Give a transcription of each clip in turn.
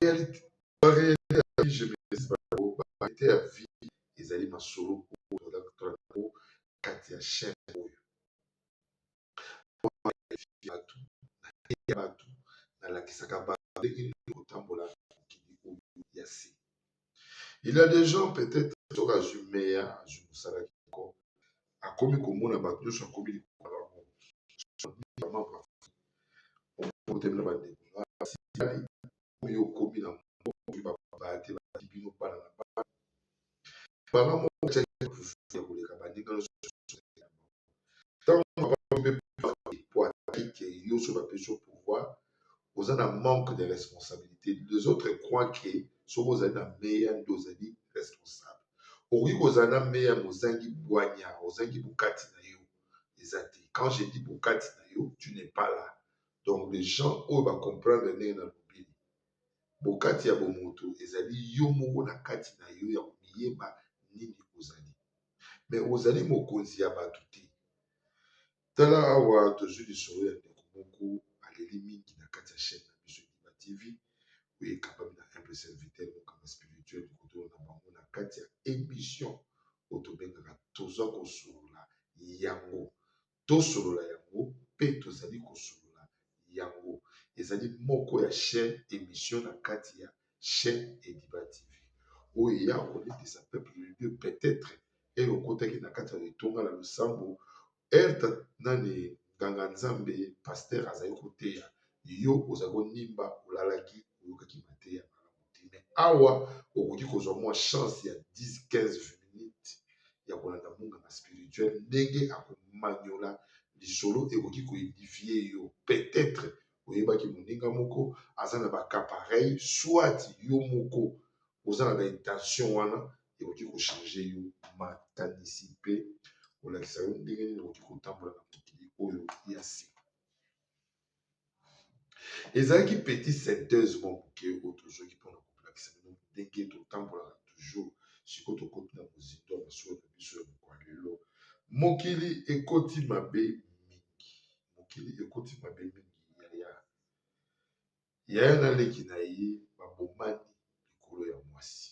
barealité ya vie ezali masolo oyo kati ya chaine oyo bato nateya bato nalakisaka bato ndenge nini kotambola mokili oyo ya se il ya des gens peut-etre soki azwi meya azwi mosala kitoko akomi komona bato nyonso akomi likolo na bango okotemela bandeko oyo okomi na babaya te bati bino bana na bana banga moko ya koleka baninga nyonso tango avandi mpe parti po ataki ke yo soki bapesi yo pouvoir oza na manque de responsabilité les autres croit ke soki ozali na meya nde ozali responsable okoki kozala na meya ma ozangi bwanya ozangi bokati na yo eza te quand je dis bokati na yo tu n'es pas là donc les gens oyo bacomprendre ndenge na lobeli bokati ya bomoto ezali yo moko na kati na yo ya komiyeba nini ozali me ozali mokonzi ya bato te. Tala awa tozwi lisolo ya ndeko moko aleli mingi na kati ya chaîne na biso Bima TV oyo ekambami na humble serviteur mokama spirituel likotolo na bango na kati ya emission oyo tobengaka toza kosolola yango tosolola yango pe tozali kosolola yango ezali moko ya chaine emission na kati ya chaine ediba tv oyo eya kolendisa peuple de dieu peut-etre eye okotaki na kati ya etonga na losambo erte nani nganga nzambe paster azali koteya yo ozali konimba olalaki oyokaki mateya malamu mais awa okoki kozwa mwa chance ya 10 15 minutes ya kolanda munganga spirituel ndenge akomanyola lisolo ekoki koedifie yo peut-être oyebaki moninga moko aza na baka pareil soit yo moko oza na baintention wana ekoki kochange yo makanisi mpe kolakisa yo ndenge nini okoki kotambola na mokili oyo ya sika ezalaki petit synthèse mwa moke oyo tozwaki mpona koplakisa bino ndenge totambolaka toujours sikoyo tokoti na mozindo ya masolo na biso ya mokwa lelo mokili ekoti mabe mingi mokili ekoti mabe mingi yaya yaya na leki na ye babomani likolo ya mwasi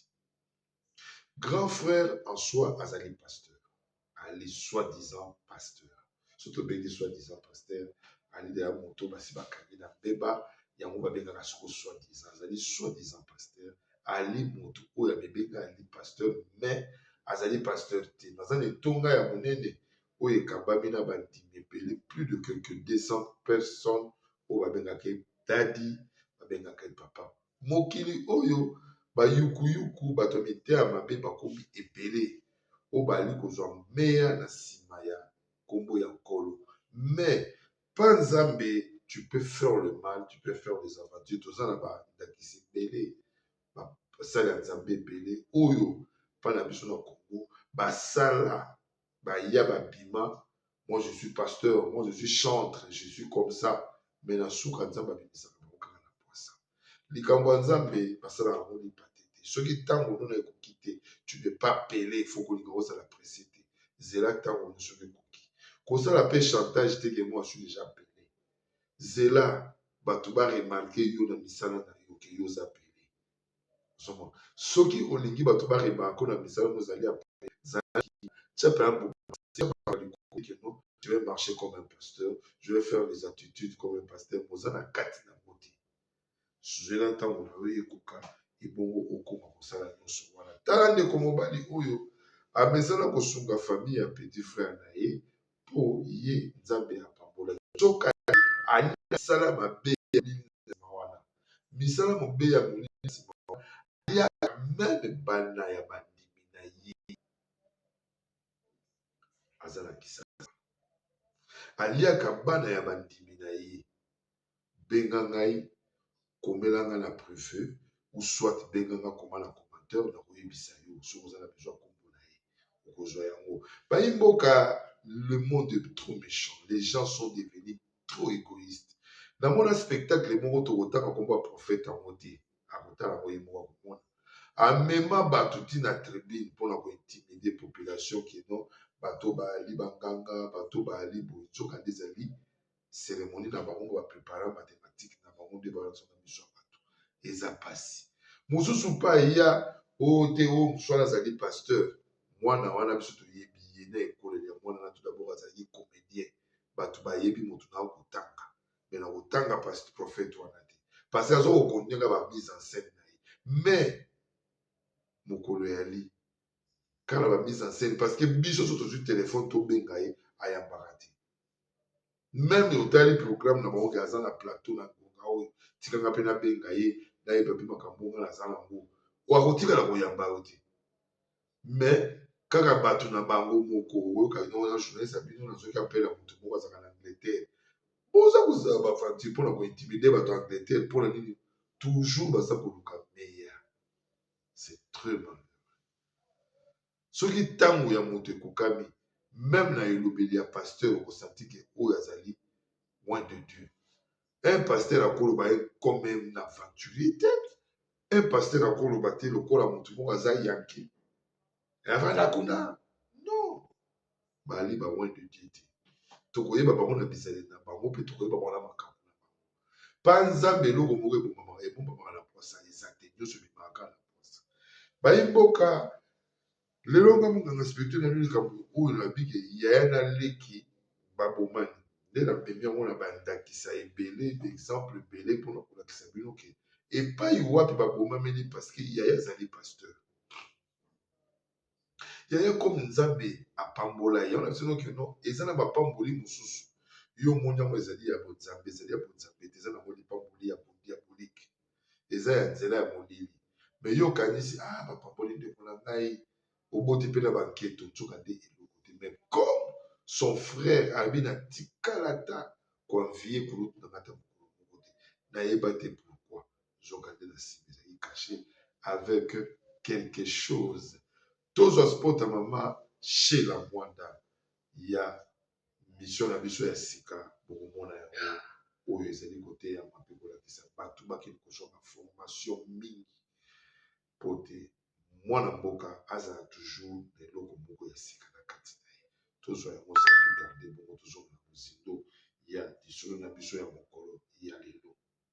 Grand frère en soi azali pasteur. Ali soi-disant pasteur. Soki tobengi soi-disant pasteur, ali deya moto basi bakangi na mbeba yango babengaka soko soi-disant. Azali soi-disant pasteur. Ali moto oyo amebenga ali pasteur mais azali pasteur te. Naza na etonga ya monene oyo ekambami na bandimi ebele plus de quelque 200 personnes oyo babengaka ye dadi babengaka ye papa Mokili oyo bayukuyuku bato ya miteya mabe bakomi ebele oyo baali kozwa meya na nsima ya nkombo ya nkolo mais pa nzambe tu peux faire le mal tu peux faire des aventures toza na bandakisi ebele basali ya nzambe ebele oyo mpa na biso na kongo basala baya ba bima moi je suis pasteur moi je suis chantre je suis comme ça mais na suka nzambe abimisaka bango kaka na pwasa likambo ya nzambe basalaka yango lipate te soki ntango nona ekoki te tu ne pas pele faut kolinga ozala presse te zela ntango ono soki ekoki kosala mpe chantage te ke moi suis déjà pele zela bato baremarke yo na misala na yo ke yo oza pele soki olingi bato barebaka ko na misala mozali ya je vais marcher comme un pasteur je vais faire les attitudes comme un pasteur oza na kati na yango te zwela ntango na yo ekoka ebongo okoma kosala nyonso wana tala ndeko mobali oyo amesana kosunga famille ya petit frère na ye mpo ye Nzambe apambolaki. Nzokande, ayei na misala mabe ya molili na nsima wana. Misala mabe ya molili na nsima wana eyaka meme banda ya bandimi na ye. Aza na kisasa. Aliaka bana ya bandimi na ye. benga ngai komela ngai na prive ou soit benga ngai koma na commentaire na koyebisa yo soki oza na besoin kombo na ye okozwa yango bayi mboka le monde est trop méchant les gens sont devenus trop égoïste namona spectacle moko tokotanga kombo ya prophète yango te akotala ngo ye moko akomona amema bato ti na tribune mpona kointimide population kino bato baali banganga bato baali boye nzoka nde ezali ceremonie na bango ba prepara mathématique na bango nde bayosa na miso ya bato eza mpasi mosusu mpe aya oyo oh, te oyo oh, mosusu wana azali pasteur mwana wana biso toyebi ye na ekoleli ya mwana na tout d'abord azalaki comédien bato bayebi moto na kotanga me na kotanga pasi prophète wana te parce aza kokondinga ba mise en scène na ye mais mokolo yali kala ba mise en scène parce que biso so tozwi telefone tobenga ye ayambaka te meme otali programme na bango ke aza na plateau na ngonga oyo tikanga mpe nabenga ye nayeba mpe makambo nga naza na yango wakotikala koyamba yo te me kaka bato na bango moko oyoka ino wana journaliste ya bino nazoki apela moto moko azalaka na angleterre boza kozala bafanti mpo na kointimide bato ya angleterre mpo na nini toujours baza koluka meilleur c'est très mal soki tango ya moto ekokami meme na elobeli ya pasteur oko sentir que oyo azali loin de Dieu un pasteur akoloba ye comme un aventurier te un pasteur akoloba te lokola moto moko aza yanki avanda kuna non baali ba loin de Dieu te. Tokoyeba bango na bizaleli na bango mpe tokoyeba bango na makambo na bango. Mpa Nzambe eloko moko ebombamaka ebombamaka na pwasa eza te, nyonso ebimaka na pwasa. Bayi mboka lelo nga monganga spirituel na likambo oyo na bike yaya na leki babomani nde na memi yango na bandakisa ebele d'exemple ebele mpona kolakisa bino ke epai wapi babomameli parceke yaya azali pasteur yaya comme nzambe apambola ye wana biso nokino eza na bapamboli mosusu yo omoni yango ezali ya bonzambe ezali ya bonzambe te eza nango lipamboli ya diabolike eza ya nzela ya molili me yo okanisi a ah, bapamboli ndeko na ngai oboti mpe na banketo nzoka nde eloko te me comme son frère abi na tikalata koanvie kulutu na ngata mokolo moko te nayeba te nzokande na nsima ezalaki kashe avec quelque chose tozwa sport ya mama shela mwanda ya mission na biso ya sika bokomona yango oyo ezali koteyama mpe kolakisa bato bakende kozwa baformation mingi mpo te mwana mboka azala toujours na eloko moko ya sika na kati na ye tozwa yango sakutarde bongo tozonga na mozindo ya lisolo na biso ya mokolo ya lelo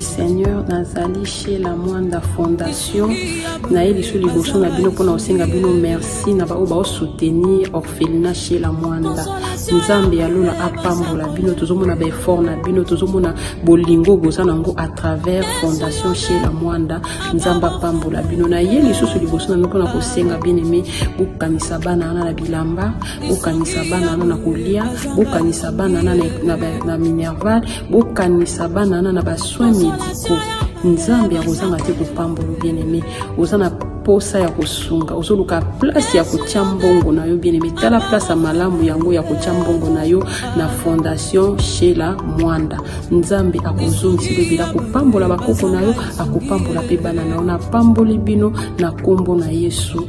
seigneur nazali chez la mwanda fondation naye lisu liboso na bino mpona kosenga bino merci na baoyo baosoutenir orphelina chez la mwanda nzambe ya lola apambola bino tozomona baeffort na bino tozomona bolingo boza na yango à travers fondation chez la mwanda nzambe apambola bino naye lisusu liboso na bino mpona kosenga bien aime bokanisa bana wana na bilamba bokanisa bana wana na kolia bokanisa bana wana na minerval bokanisa bana wana na basoin médicaux nzambe akozanga te kopambola bien aimé oza na posa ya kosunga ozoluka place ya kotya mbongo na yo bien aimé tala place ya malamu yango ya kotya mbongo na yo na fondation shela mwanda nzambe akozongisa elobela akopambola bakoko na yo akopambola mpe bana na yo napamboli bino na nkombo na yesu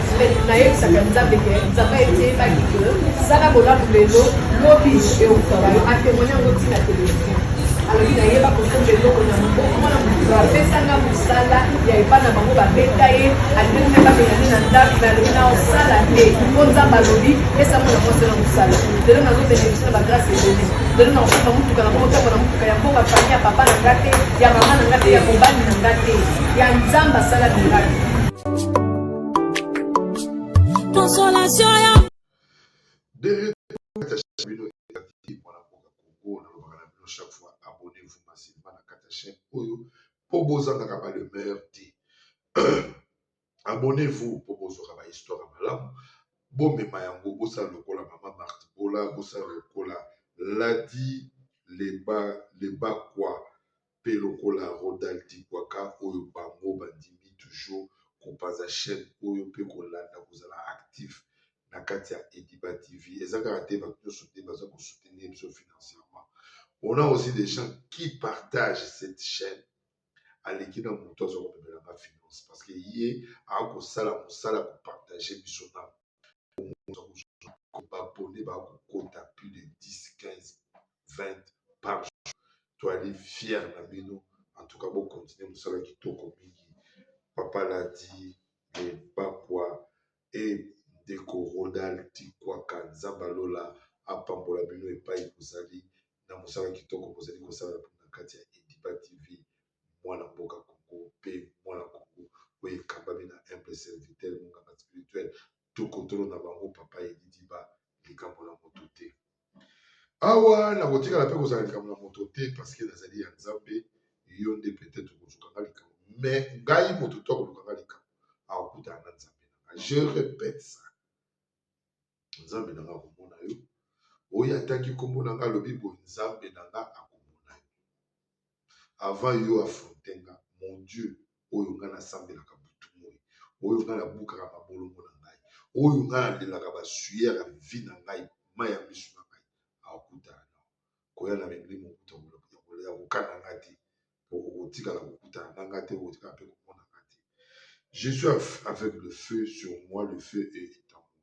nayebisaka nzambe ke nzambe ayeteyebaki ke sala bolamu lelo lobi eukala yo atemoine yango ntina televizio alobi nayeba kosomba eloko na moboko mwana mokolo apesanga mosala ya epa na bango babeta ye alingi mpe babengani na ndako me alobi na osala te mpo nzambe alobi pesa mwana mwasi na mosala lelo nazobenefisi na bagrase ebele lelo nakosomba motuka na moko ntango na motuka ya mboka fami ya papa na nga te ya mama na nga te ya mobali na nga te ya nzambe asala miraki consolation ya chaque fois abonnez-vous massivement na kata chaîne oyo po bozangaka ba le meilleur te abonnez-vous po bozwaka ba histoire ya malamu bomema yango bosala lokola mama marti bola bosala lokola ladi leba lebakwa pe lokola Rodal Dikwaka oyo bango bandimi toujours kopanza chaine oyo pe kolanda kozala actif na kati ya Ediba TV. Eza kaka te batu nionso te baza ko soutenir biso financièrement. On a aussi des gens qui partagent cette chaine aleki na moto aza komemela nga finance parce que ye akosala mosala kopartage biso na abonne ba kokota plus de 10 15 20 par jour toali fier na bino en tout cas bo continuer mosala kitoko mingi papa ladi le bakwa et ndeko rodal tikwaka nzambe alola apambola bino epai bozali na mosala kitoko bozali kosala na kati ya ediba tv mwana mboka Congo mpe mwana Congo oyo ekambami na humble serviteur monganga spirituel tokotolo na bango papa Elidiba likambo na moto te. Awa nakotikala mpe kozala likambo na moto te parceke nazali ya Nzambe, yo nde peut-être okozuka nga likambo me ngai moto to akoluka nga likambo akokutana na Nzambe na nga. Je répète ça. nzambe na nga akomona yo oyo ataki nkombo na nga alobi boye nzambe na nga akomona yo avant yo afronte nga mon dieu oyo nga nasambelaka butu moi oyo nga nabukaka mabolongo na ngai oyo nga nalelaka basuyer ya vi na ngai mai ya misu na ngai akutana na koya na milimo ya kokana nga te okotikala kokutana na ngai te okotikala mpe komona ngai te je suis avec le feu sur moi le feu est en moi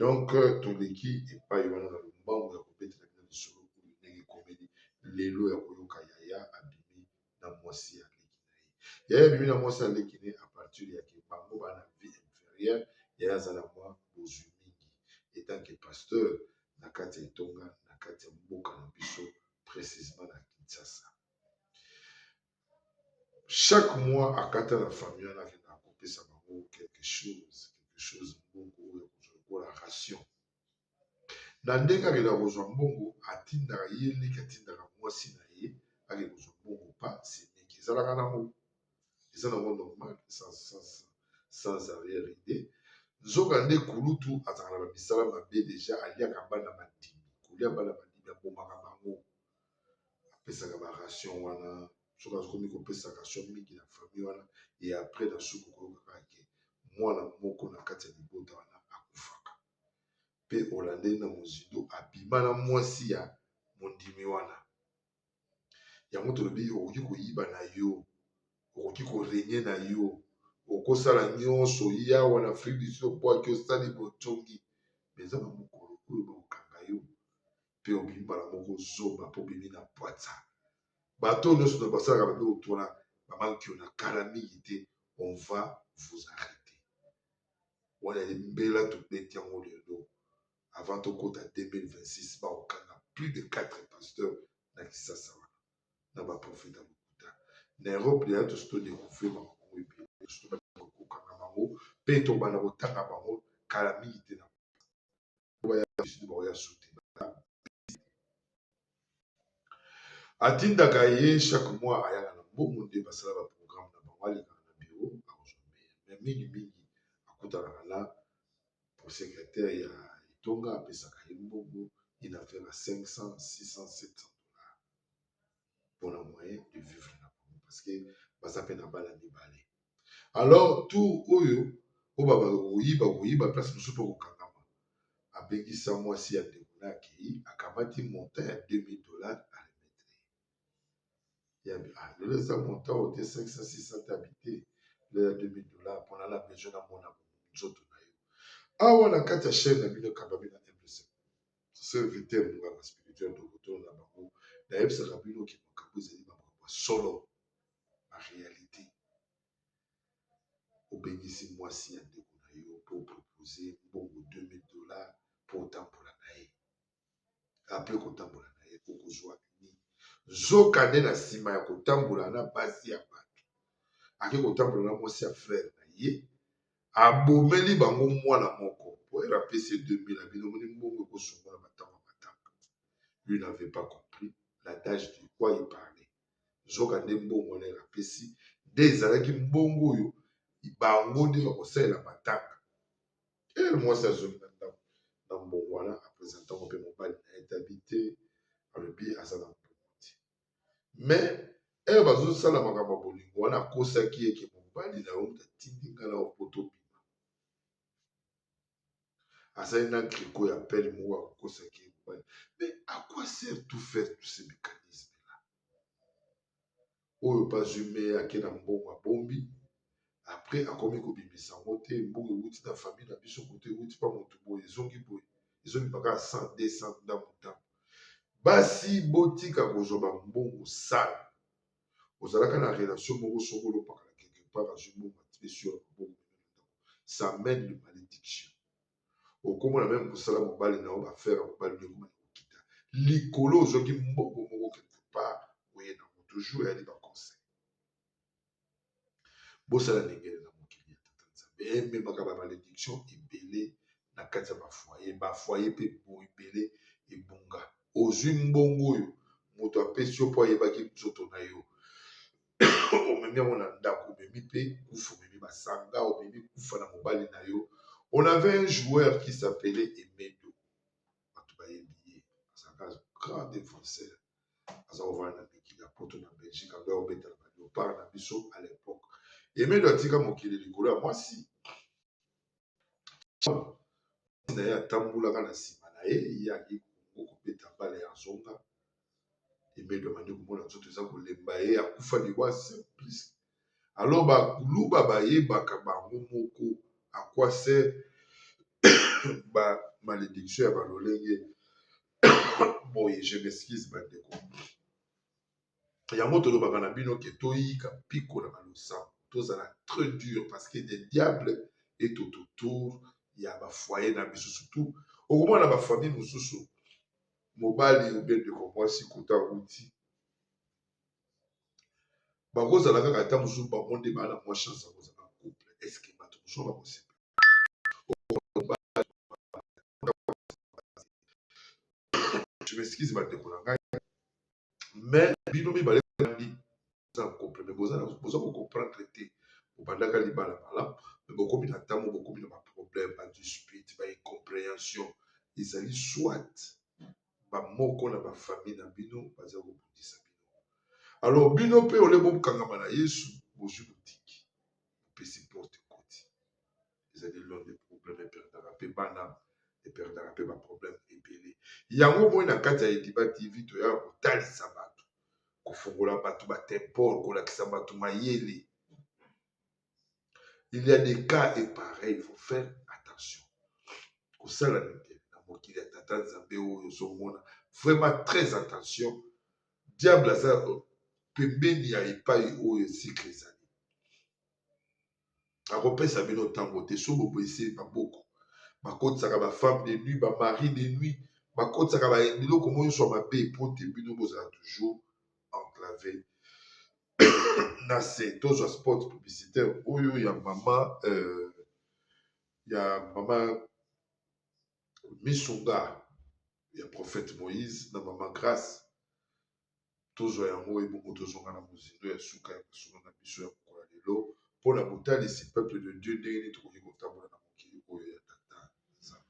donc euh, toleki epai wana na lombango ya kobetela bino lisolo oyo ndenge ekomeli lelo ya koyoka yaya abimi na mwasi ya leki na ye yaya abimi na mwasi ya leki na ye apartir ya ke bango bana vie inférieure yaya aza na mwa bozwi mingi etant ke pasteur na kati ya etonga na kati ya mboka na biso précisement na kinshasa chaque mois akata na famille wana akenda kopesa bango quelque chose quelque chose mbongo oyo akozwa lokola ration na ndenge akenda kozwa mbongo atindaka ye leki atindaka mwasi na ye ake kozwa mbongo pa semeki ezalaka nango eza nango normal sans, sans, sans arrière idée nzokande kulutu azalaka na bamisala mabe deja aliaka bana bandimi kolia bana bandimi abomaka bango apesaka ba ration wana soki akomi kopesa ration mingi na famille wana e après na suku koyokaka ke mwana moko na kati ya libota wana akufaka mpe olandeli na mozindo abima na mwasi ya mondimi wana yango tolobi okoki koyiba na yo okoki korenye na yo okosala nyonso yawa na afrique du sud mpo ake osali botongi eza na mokolo oyo bakokanga yo mpe obimi mbala moko zoba mpo obimi na pwatsa bato oyo nyonso basalaka bape otwana bamanki yo na kala mingi te on va vous arrêter wana ye mbela tobeti yango lelo avant tokota 2026 baokanga plus de 4 pasteurs na kisasa wana na baprofeta lokuta na europe leya tosi todekuvre bango ebele kokokanga bango mpe tobanda kotanga bango kala mingi te na atindaka ye chaque mois ayaka na mbongo nde basala ba programme na bango alekaka na biro akozwa meya me mingi mingi akutanaka na prosecretaire ya etonga apesaka ye mbongo inafela 500 600 700 pona moyen de vivre na bango parce que baza pe na bana mibale alors tour oyo po babaka koyiba koyiba place mosusu pe kokangama abengisa mwasi ya ndeko na akei akamati montant ya 2000 dollars a remettre ya ah, lelo eza montant ote 500 600 habite lelo ya 2000 dollars pona na besoin na mona nzoto na yo awa na kati ya chaine na bino ekamba bino serviteur na ngai na spirituel dokotolo na bango nayebisaka bino ke makambo ezali makambo ya solo na réalité obengisi mwasi ya ndeko na yo mpo opropose mbongo 2000 dollar mpo otambola na ye apres kotambola na ye okozwa nini nzoka nde na nsima ya kotambola na basi ya bato ake kotambola na mwasi ya frere na ye Abomeli bango mwana moko. Poere apesi ye 2000 na bino moni mbongo ekosungola matama matanga. Lui n'avait pas compris l'adage de quoi il parlait. Nzoka nde mbongo wana apesi nde ezalaki mbongo oyo bango nde bakosalela matanga. Ere mwasi azongi na ndako na mbongo wana apresenta ngo mpe mobali na ye tabi te alobi aza na mbongo te. mais ere bazosala makambo ya bolingo wana akosaki eke mobali na yo moto atindi ngai na opoto bima azali na griko ya pele moko akokosaki ye mobali mais à quoi sert tout faire tous ces mécanismes là oyo bazwi meye ake na mbongo abombi après akomi kobimisa yango te mbongo ewuti na famille na biso moto ewuti pa moto boye ezongi boye ezobima kaka 100 200 ndambo ndambo basi botika kozwa bambongo sale ozalaka na relation moko soko olopakala quelque part azwi mbongo atipesi yo na mabongo ça mène de malédiction okoma na meme kosala mobali na yo bafere ya mobali ndeko na kokita likolo ozwaki mbongo moko quelque part oye na moto jour eyali baconseil bosala ndengele na mokili ya tata nzambe ememaka ba malediction ebele na kati ya bafoye bafoye mpe ebele ebunga ozwi mbongo oyo moto apesi yo mpo ayebaki nzoto na yo omemi yango na ndako omemi mpe kufa omemi masanga omemi kufa na mobali na yo on avait un joueur qui s'appelait emedo bato bayebi ye azalaka grand défenseur aza kovanda na mikili ya poto na belgique ando obeta na baleopard na biso à l'époque emedo atika mokili likolo ya mwasi na ye atambolaka na nsima na ye ye ayaki kongo kobeta bale ya zonga emedo amandi komona nzoto eza kolemba ye akufa liwa simplice alors ba kuluba bayebaka bango moko à quoi sert ba malédiction ya ba lolenge boye je m'excuse ba ndeko yango tolobaka na bino ke toyika mpiko na balosambo tozala très dur parce que des diables est tout autour ya ba foyer na biso surtout okomona na ba famille mosusu mobali obe ndeko mwasi kuta uti bakozala kaka ata mosusu bango nde baa na mwa chance ya kozala couple eske bato mosusu bakosepela je m'excuse bandeko na ngai mais bino mibale nani boza na couple mais boza kocomprendre te bobandaka libala malamu mais bokomi na ntango bokomi na baproblème badispute baincompréhension ezali soit bamoko na bafamile na bino baza kobundisa bino alors bino mpe ole bokangama na yesu bozwi botiki bopesi porte ekoti ezali lone de problème eperdaka mpe bana eperdaka mpe baproblème ebele yango moi na kati ya ediba tv toya kotalisa bato kofungola bato batempole kolakisa bato mayele il y a des cas et pareil il faut faire attention kosala nini na mokili ya tata nzambe oyo ozomona vraiment très attention diable aza pembeni ya epai oyo esikre ezali akopesa bino ntango te so boboyise maboko bakotisaka bafemme de nuit bamari de nuit bakotisaka biloko mo nyonso ya mabe mpo te bino bozala toujours enclave na se tozwa spot publicitaire oyo ya mama euh, ya mama misunga ya prophète moïse na mama grace tozwa yango ebongo tozonga na mozindo ya suka ya masolo na biso ya mokolo ya lelo mpo na botalisi peuple de dieu ndenge nini tokoki kotambola na mokili oyo ya tata nzambe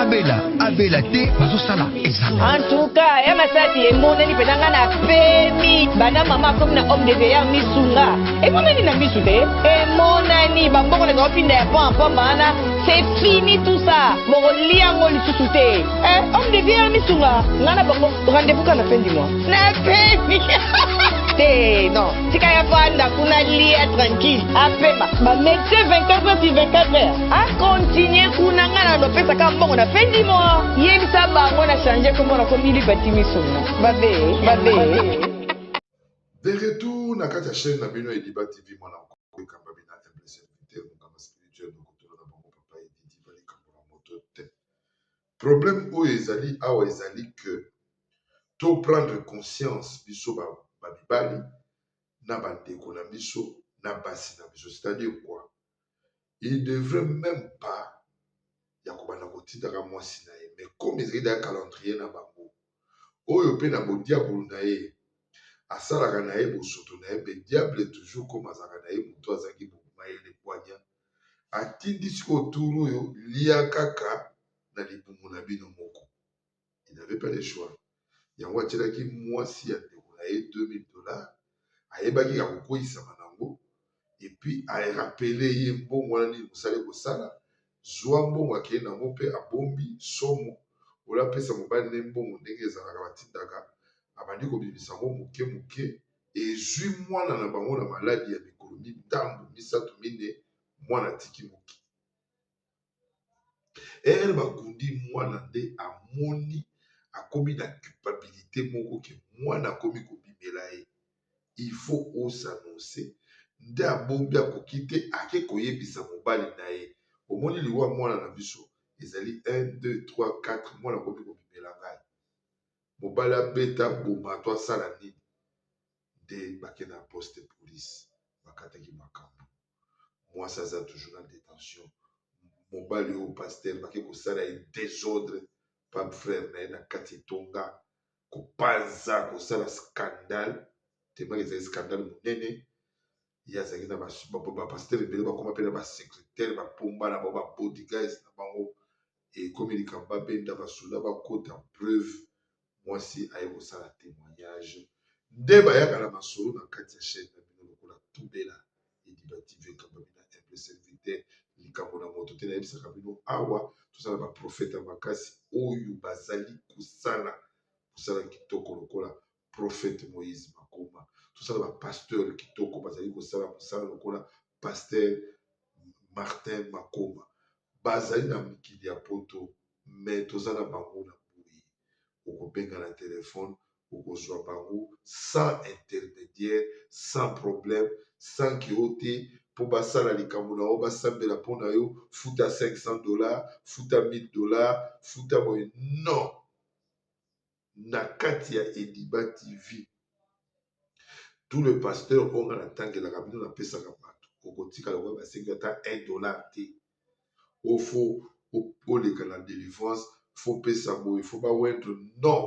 abela abela te bazosala ezanga antuka ya masasi emonani mpenza ngai na pemi banda mama akomi na homme de veilleur misunga emonani na misu te emonani bambongo na baopinda ya pont mpamba wana c'est fini tout ça bokolia yango lisusu te eh, homme de veilleur misunga ngai na bango rendez-vous ka na fin du mois na pemi te non tika ya fanda kuna lia tranquille apema ba médecin 24 heures sur 24 heures A continuer kuna nga na lopesa ka mbongo na fin du mois. Yebisa bango na changer kombo na komi Liberty Misuna. Babe, babe. De retour na kati ya chaîne na bino Ediba TV mwana mokolo ekamba bina MLC Invité mokamba spirituel na kotuna na bango papa Edidi bali kambo na moto te. Problème oyo ezali awa ezali que to prendre conscience biso ba, ba mibali na bandeko na biso na basi na biso c'est-à-dire quoi il devrait même pas ya kobanda kotindaka mwasi na ye mais comme ezali da calendrier na bango oyo mpe na bodiabulu na ye asalaka na ye bosoto na ye mpe diable toujours comme azalaka na ye moto azalaki bomayele bwanya atindi sikoyo turu oyo lia kaka na libumu na bino moko il n'avait pas le choix yango atyelaki mwasi ya ndeko na ye 2000 dollars ayebaki ya kokweisama nango epuis arapele ye mbongo wana nini mosali kosala zwa mbongo akei nango mpe abombi somo ola apesa mobali na ye mbongo ndenge ezalaka batindaka abandi kobimisa yango moke moke ezwi mwana na bango na maladi ya mikolo mitambo misato mine mwana atiki moke ere bakundi mwana nde amoni akomi na culpabilite moko ke mwana akomi kobimela ye il faut osanonse nde abombi akoki te ake koyebisa mobali na ye omoni liwa mwana na biso ezali 1 2 3 4 mwana akomi kobimela ngai mobali abeta boma to asala nini nde bakenda na poste police bakataki makambo mwasi aza toujours na detention mobali oyo pasteur bake kosala ye desordre pa frère na ye na kati etonga kopanza kosala scandale tembaki ezali scandale monene ye azalaki na bapasteur ebele bakoma mpe na basecretaire bapomba na bango babodigas na bango ekomi likambo babenda basoda bakota preuve mwasi aye kosala témoignage nde bayaka na masolo na kati ya chaîne na bino lokola tubela ediba tv ekamba bina mpe serviteur likambo na moto te nayebisaka bino awa tozala baprofeta makasi oyo bazali kosala kosala kitoko lokola prophète Moïse Makomba tosala ba pasteur kitoko bazali kosala mosala lokola pasteur Martin Makomba bazali na mokili ya poto me toza na bango na boye okobenga na telefone okozwa bango sans intermédiaire sans problème sans ke yo te mpo basala likambo na yo basambela mpo na yo futa 500 dollars futa 1000 dollars futa boye non na kati ya ediba tv tout le pasteur oyo nga natangelaka bino napesaka bato okotikala okoya basengi ata 1 dollar te o fo oleka na délivrance fo pesa boye fo bawendre non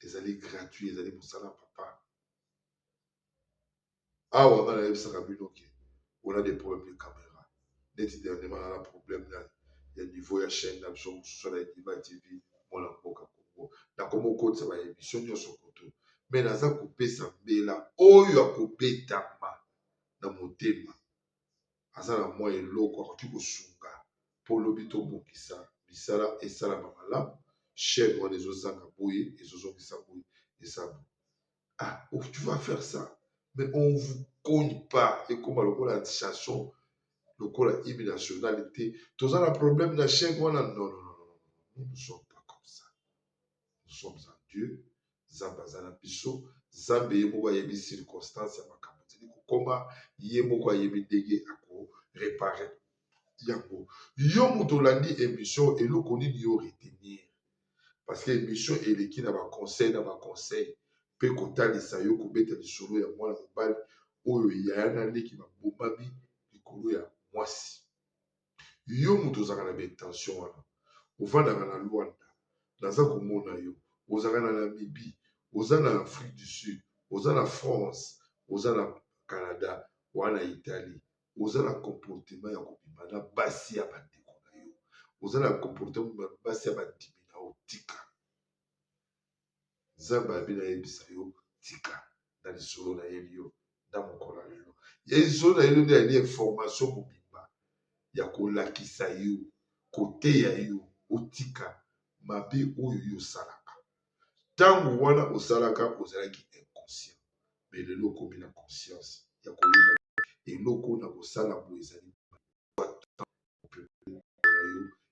ezali gratuit ezali mosala papa awa nga nayebisaka bino ke on a des problèmes de caméra neti dernièrement nana problème na ya niveau ya chaîne na biso mosusu na edima tv mwana mboka kongo nakomi okotisa ba émission nyonso koto me naza kopesa mbela oyo akobetama na motema aza na mwa eloko akoki kosunga mpo lobi tobongisa misala esalama malamu chaîne wana ezozanga boye ezozongisa boye eza boye ah oh, tu vas faire ça mais on vous cogne pas ekoma lokola chanson lokola hymne national te toza na problème na chèque wana non non non non nous ne sommes pas comme ça nous sommes en dieu nzambe aza na biso nzambe ye moko ayebi circonstance ya makambo tili kokoma ye moko ayebi ndenge akorepare yango yo moto olandi émission eloko nini yo retenir parce que émission eleki na ba conseil na ba conseil mpe kotalisa yo kobeta lisolo ya mwana mobali oyo yaya na leki babomami likolo ya mwasi yo moto ozalaka na baintention wana ofandaka na lwanda naza komona yo ozalaka na namibie oza na afrique du sud oza na france oza na canada wana italie oza na comportement ya kobima na basi ya bandeko na yo oza na comportement na basi ya bandimi na yo tika nzambe abi nayebisa yo tika na lisolo na ye liyo na mokolo ya lelo ya lisolo na yelo nde yali information mobimba ya kolakisa yo koteya yo otika mabe oyo yo osalaka ntango wana osalaka ozalaki inconscient me lelo okomi na conscience ya koyeba eloko na kosala bo ezali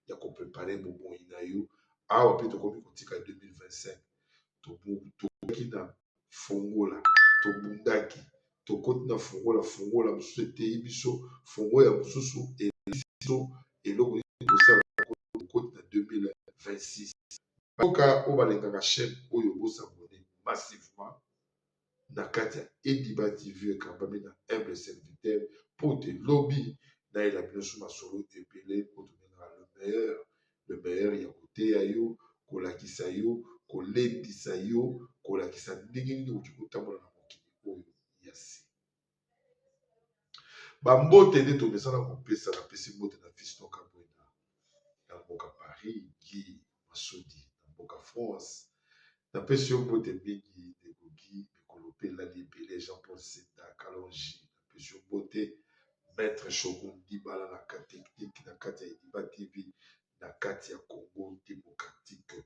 ya koprepare bomoi na yo awa mpe tokomi kotika 2025 tokaki na fongola tobundaki tokoti na fongola fongola mosusu eteyi biso fongo ya mosusu elisi biso eloko nini kosala kokoti na 2026 Mboka oyo balingaka chaine oyo bo s'abonner massivement na kati ya Ediba TV ekambami na humble serviteur mpo te lobi nayela bino su masolo ebele oyo tobengaka le meilleur le meilleur ya koteya yo kolakisa yo kolendisa yo kolakisa ndenge nini okoki kotambola na mokili oyo ya sika. Bambote nde tomesana kopesa na pesi mbote na Fiston Kabwenda na mboka Paris, Guy Masudi na mboka France. Na pesi yo mbote mingi ndeko Guy, mikolo mpe elali ebele Jean Paul Senda Kalonji na pesi yo mbote Maître Shogun Dibala na technique na kati ya Idiba TV na kati ya Congo Democratique.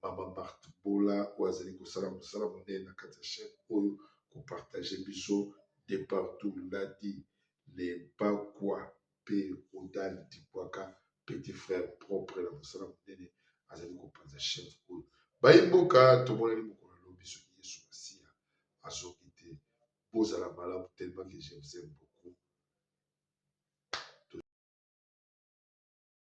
Mama Marthe Bola oyo azali kosala mosala monene na kati ya chaîne oyo ko partager biso de partout Ladi le Bakwa pe Rodal Dibwaka petit frère propre na mosala monene azali kopanza chaîne oyo bayi mboka tomonani mokolo lobi soki Yesu Masiya azongi te bozala malamu tellement que je vous aime beaucoup